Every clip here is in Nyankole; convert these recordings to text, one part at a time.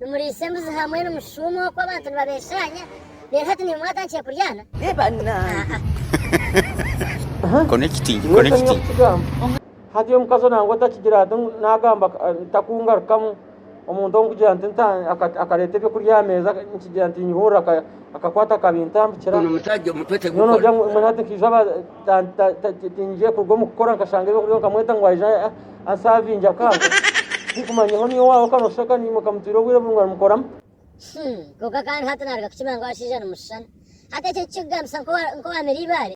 Nimuriisa embuzi hamwe, nimushuuma okwo abantu nibabeshaanya, reero hati nimwe mwatandikire kuryaana? Aa-a! Hati omukazi nangwa otakigira ati, Naagamba ntakungarukamu, omuntu ow'okugira nti akareeta eby'okurya aha meeza, nkigira nti nyehurira akakwata akabi ntambukira. Mbwenu ogira ngu, Mbwenu hati nkaija aba, tindigiire kuruga omu kukora nkashanga eby'okurya, nkamweta ngu aije. Asavingi akaaga tikumanya honi y'owaawe ka noshusha ka niimuka mutwire obwire burungi arimukoramu. Him, Kwonka kandi hati naaruga kukimanya ngu abashaija nimushushana. Hati ekyo tikikugambisa nka owaamire eibaare?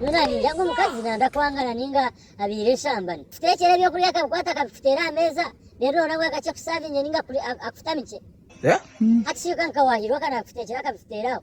Nyowe naabiija ngu omukazi naanza kwangana nainga abaire enshambani. Kiteekyere eby'okurya akabikwata akabikuteera aha meeza reero noona bwe akakye kusavinge nainga akufutamikye. Hati shweka nka waahirwa ka naabikuteekyera akabikuteeraho.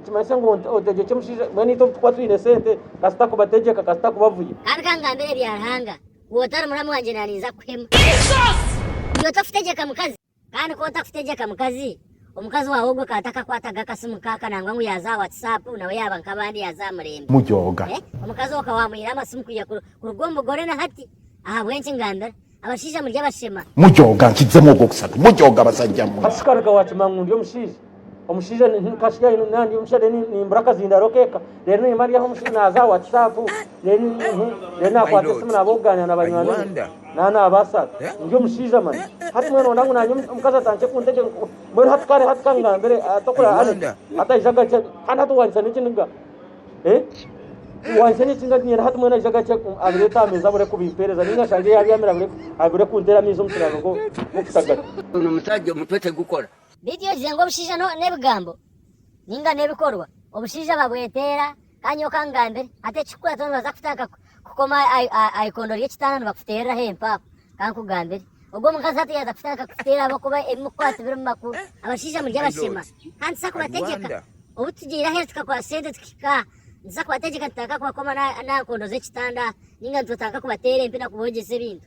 Nikimanyisa ngu otegyekye mushaija mbwenu itwe obutukuba twine sente kasita kubategyeka kasita kubavuya. Kandi kangambire ebya Ruhanga ku otari muramu wangye naninza kuhema. Ndi ota kutegyeka mukazi? Kandi ku ota kutegyeka mukazi, omukazi wawe ogwo ka takakwataga akasimu kaka nangwa ngu yaza aha whatsapp nawe yaba nkabandi yaza aha murembe. Mujooga. Eh? Omukazi oka wamwire amasimu kuya kuruga omubugore na hati? Ahabwenki ngambira? Abashaija muri abashema. Mujooga nkidzemu ogwokusatu mujooga abasajja mwe. Hati shikaruga wakima ngu ndi omushaija omushaija nkashigayo naba ndi omushaija reero nimbura akazindaaro k'eka reero nimba ndi aho omushaija naaza aha watisaapu reero naakwata esimu naaba okugaanira na banywani be naba naabaasa ndi omushaija mani hati mbwenu nooda ngu naanye omukazi atandikye kuntegyera mbwenu hati kare hati kangambire hati okuraabe Alex hati aije agakye kandi hati waanyitsa n'ekiniga Eh? Wansi n'eki nga ninyenda hati mwena aija gakye um, abireete aha meeza abure kubimpeereza ninga shange yaabyamire abure, abure kunteera amaizi omu kiraaro nk'o- nk'okutagata. Ono omusaja omutwe tegukora. Beitu iyo ogize ngu obushaija no nebigambo ninga nebikorwa obushaija babweteera kandi nyowe kangambire hati ekikukwata nobaza kuta nkaku kukoma aha ikondo ry'ekitanda nibakuteereraho empaaho ka nkugambire ogwo omukazi hati yaaza kutandika kukuteera ahabw'okuba ebi mukukwatsa birimu makuru abashaija muri abashema kandi tuza kubategyeka obu tugiire aheeru tukakwatsa sente tukahika aha nituza kubategyeka tutandika kubakoma n'aha nkondo z'ekitanda ninga nitutandika kubateera empi na kubogyesa ebintu